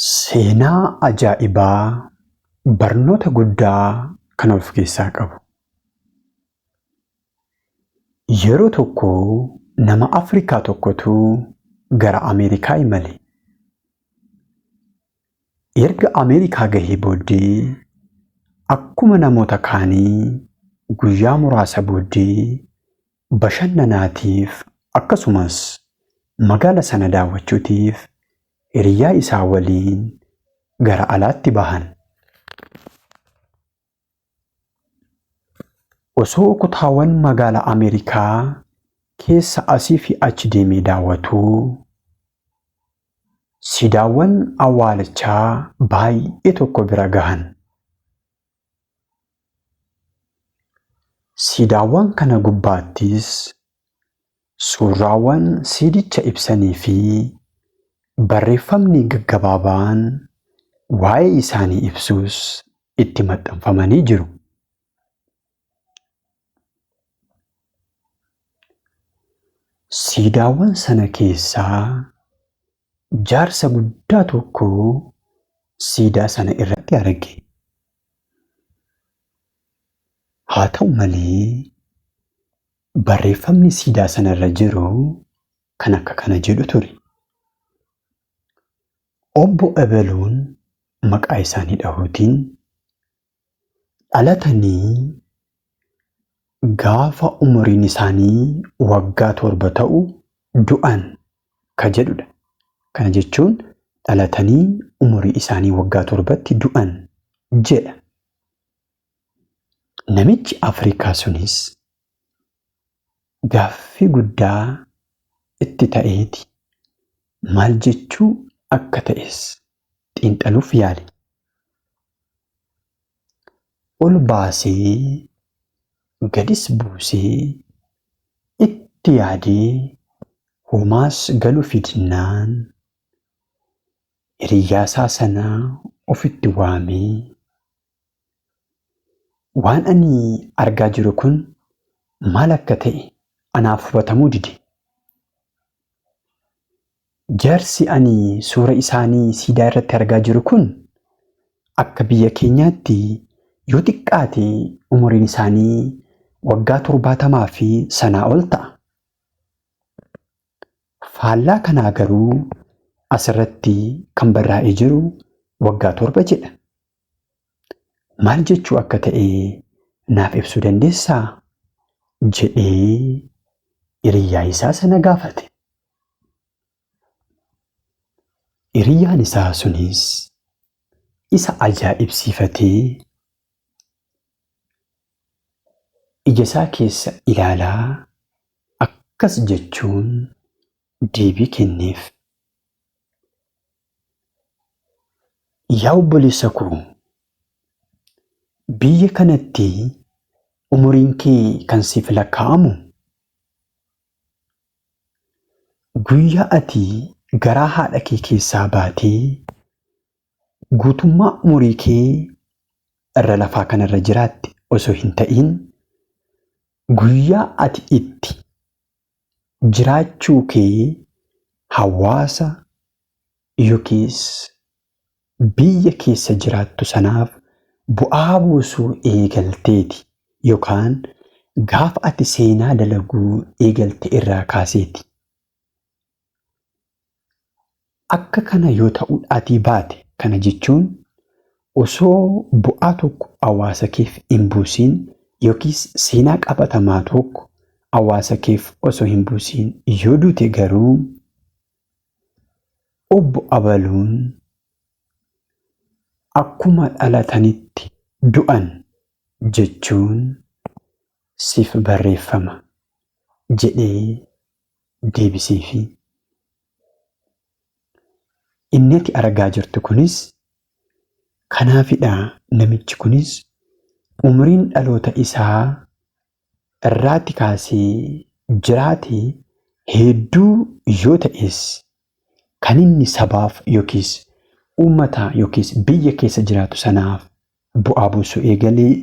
Seenaa ajaa'ibaa barnoota guddaa kan of keessaa qabu. Yeroo tokko nama Afrikaa tokkotu gara Ameerikaa imale. Erga Ameerikaa gahee booddee akkuma namoota kaanii guyyaa muraasa booddee bashannanaatiif akkasumas magaala sana daawwachuutiif hiriyaa isaa waliin gara alaatti bahan. Osoo kutaawan magaala Ameerikaa keessa asii fi achi deemee daawwatuu siidaawwan awwaalichaa baay'ee tokko bira gahan. Siidaawwan kana gubbaattis Suurraawwan siidicha ibsanii fi barreeffamni gaggabaabaan waa'ee isaanii ibsus itti maxxanfamanii jiru. Siidaawwan sana keessaa jaarsa guddaa tokko siidaa sana irratti arge. Haa ta'u malee, Barreeffamni siidaa sana irra jiru kan akka kana jedhu ture. Obbo Ebeluun maqaa isaanii dhahuutiin dhalatanii gaafa umuriin isaanii waggaa torba ta'u du'an ka jedhudha. Kana jechuun dhalatanii umurii isaanii waggaa torbatti du'an jedha. Namichi Afrikaa sunis gaaffii guddaa itti ta'eeti. Maal jechuu akka ta'es xiinxaluuf yaale. Ol baasee gadis buusee itti yaadee homaas galuufi dinnaan hiriyyaasaa sana ofitti waamee Waan ani argaa jiru kun maal akka ta'e anaaf hubatamuu dide. Jaarsi ani suura isaanii siidaa irratti argaa jiru kun akka biyya keenyaatti yoo xiqqaate umuriin isaanii waggaa torbaatamaa fi sanaa ol ta'a. Faallaa kanaa garuu asirratti kan barraa'ee jiru waggaa torba jedha. Maal jechuu akka ta'e naaf ibsuu dandeessaa? jedhee hiriyaa isaa sana gaafate. Hiriyaan isaa sunis isa ajaa'ibsiifatee ija isaa keessa ilaalaa akkas jechuun deebii kenneef. Yaa obboleessa koo, biyya kanatti umuriin kee kan siif lakkaa'amu guyyaa ati garaa haadha kee keessaa baatee guutummaa umurii kee irra lafaa kanarra jiraatte osoo hin ta'iin guyyaa ati itti Jiraachuu kee hawaasa yokiis biyya keessa jiraattu sanaaf bu'aa buusuu eegalteeti yokaan gaafa ati seenaa dalaguu eegalte irraa kaaseeti. Akka kana yoo ta'udhaatii baate kana jechuun osoo bu'aa tokko awaasa keef hin buusiin yookiis seenaa qabatamaa tokko awaasa keef osoo hin buusiin yoo duute garuu obbo abaluun akkuma dhalatanitti du'an jechuun siif barreeffama jedhee deebiseefii. Inni ati argaa jirtu kunis kanaafidha namichi kunis umriin dhaloota isaa irraatti kaasee jiraate hedduu yoo ta'es kan inni sabaaf yookiis uummata yookiis biyya keessa jiraatu sanaaf bu'aa buusuu eegalee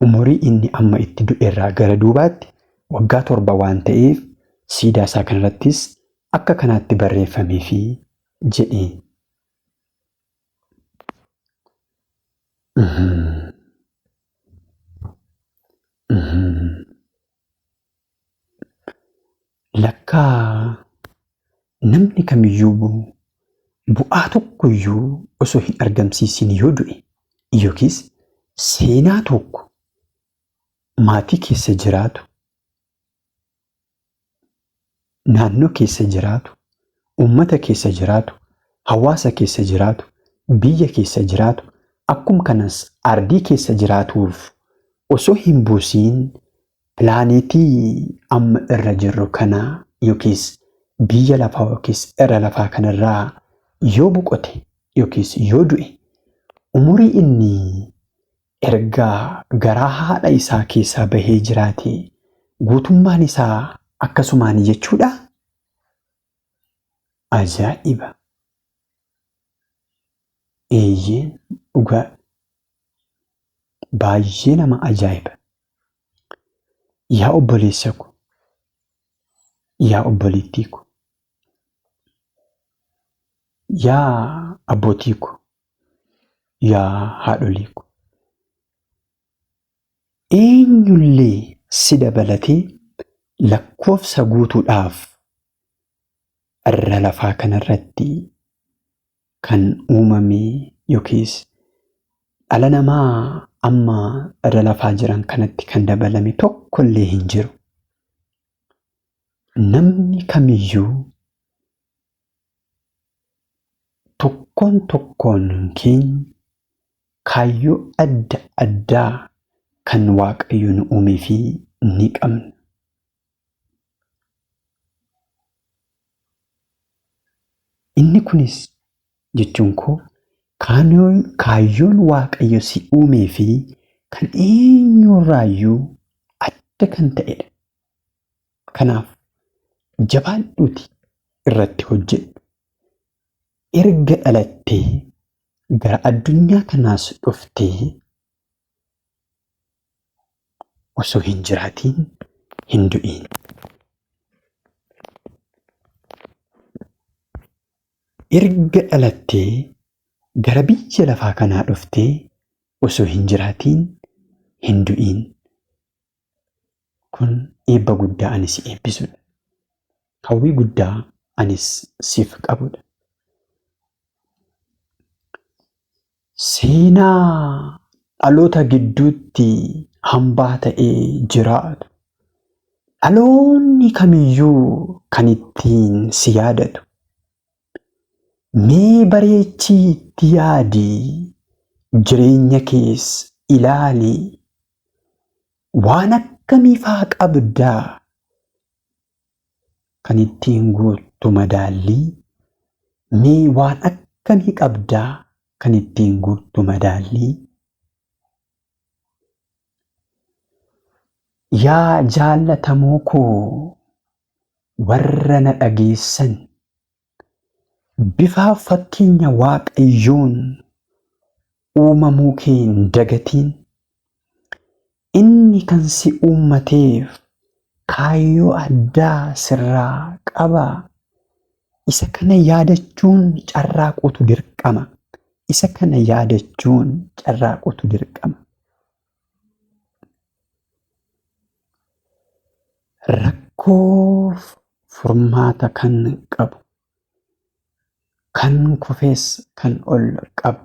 Umurii inni amma itti du'erraa gara duubaatti waggaa torba waan ta'eef siidaa isaa kanarrattis akka kanaatti barreeffameefi jedhe. Lakkaa namni kamiyyuu bu'aa tokkoyyuu osoo hin argamsiisin yoo du'e yookiis seenaa tokko maatii keessa jiraatu naannoo keessa jiraatu, uummata keessa jiraatu, hawaasa keessa jiraatu, biyya keessa jiraatu, akkum kanas ardii keessa jiraatuuf osoo hin buusiin pilaaneetii amma irra jirru kana yookiis biyya lafaa yookiis irra lafaa kana irraa yoo boqote yookiis yoo du'e umurii inni Erga garaa haadha isaa keessaa bahee jiraatee guutummaan isaa akkasumaani jechuudhaa? Ajaa'iba! Eeyyeen dhugaadha. Baay'ee nama ajaa'iba! Yaa obboleessa ko, yaa obboleettii ko, yaa abbootii ko, yaa haadholii ko eenyullee si dabalatee lakkoofsa guutuudhaaf irra lafaa kanarratti kan uumame yookiis dhala namaa amma irra lafaa jiran kanatti kan dabalame tokkollee hin jiru. Namni kamiyyuu Tokkoon tokkoon keenya kaayyoo adda addaa kan Waaqayyo nu uumeef ni qabna. Inni kunis jechuun koo kaayyoon Waaqayyo si uumee fi kan eenyurraayyuu adda kan ta'edha. Kanaaf jabaadhuuti irratti hojjedhu. Erga dhalattee gara addunyaa kanaas dhuftee osoo hin jiraatiin hin du'iin. Erga dhalattee gara biyya lafaa kanaa dhuftee osoo hin jiraatiin hin du'iin. Kun eebba guddaa ani si eebbisudha. Hawwii guddaa anis siif qabudha. Seenaa dhaloota gidduutti hambaa ta'ee jiraatu. Dhaloonni kamiyyuu kan ittiin si yaadatu. Mee bareechii itti yaadi, jireenya kees ilaali. Waan akkamii faa qabda? Kan ittiin guuttu madaallii. Mee waan akkamii qabda? Kan ittiin guuttu madaallii. Yaa jaallatamoo koo! Warra na dhageessan, bifaaf fakkeenya Waaqayyoon uumamuu kee hin dagatiin. Inni kan si uummateef kaayyoo addaa sirraa qaba. Isa kana yaadachuun carraaquutu dirqama. Isa kana yaadachuun carraaquutu dirqama. Rakkoof furmaata kan qabu, kan kufes kan ol qabu,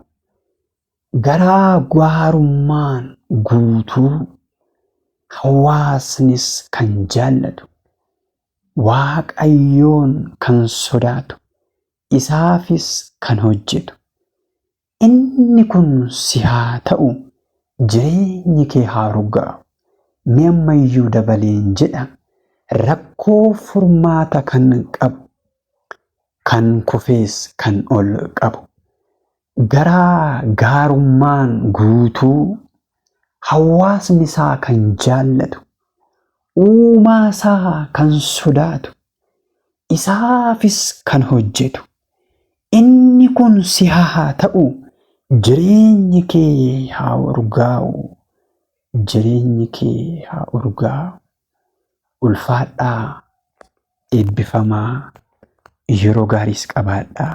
garaa gaarummaan guutuu hawaasnis kan jaallatu, Waaqayyoon kan sodaatu, isaafis kan hojjetu, Inni kun si haa ta'u, jireenyi kee haa urgaa'u. Mee amma iyyuu dabaleen jedha, rakkoo furmaata kan qabu, kan kufees kan ol qabu, garaa gaarummaan guutuu, hawaasni isaa kan jaallatu, Uumaa isaa kan sodaatu, isaafis kan hojjetu, Inni kun si haa ta'u, jireenyi kee haa urgaa'u, jireenyi kee haa urgaa'u. Ulfaadhaa, eebbifamaa, yeroo gaariis qabaadhaa.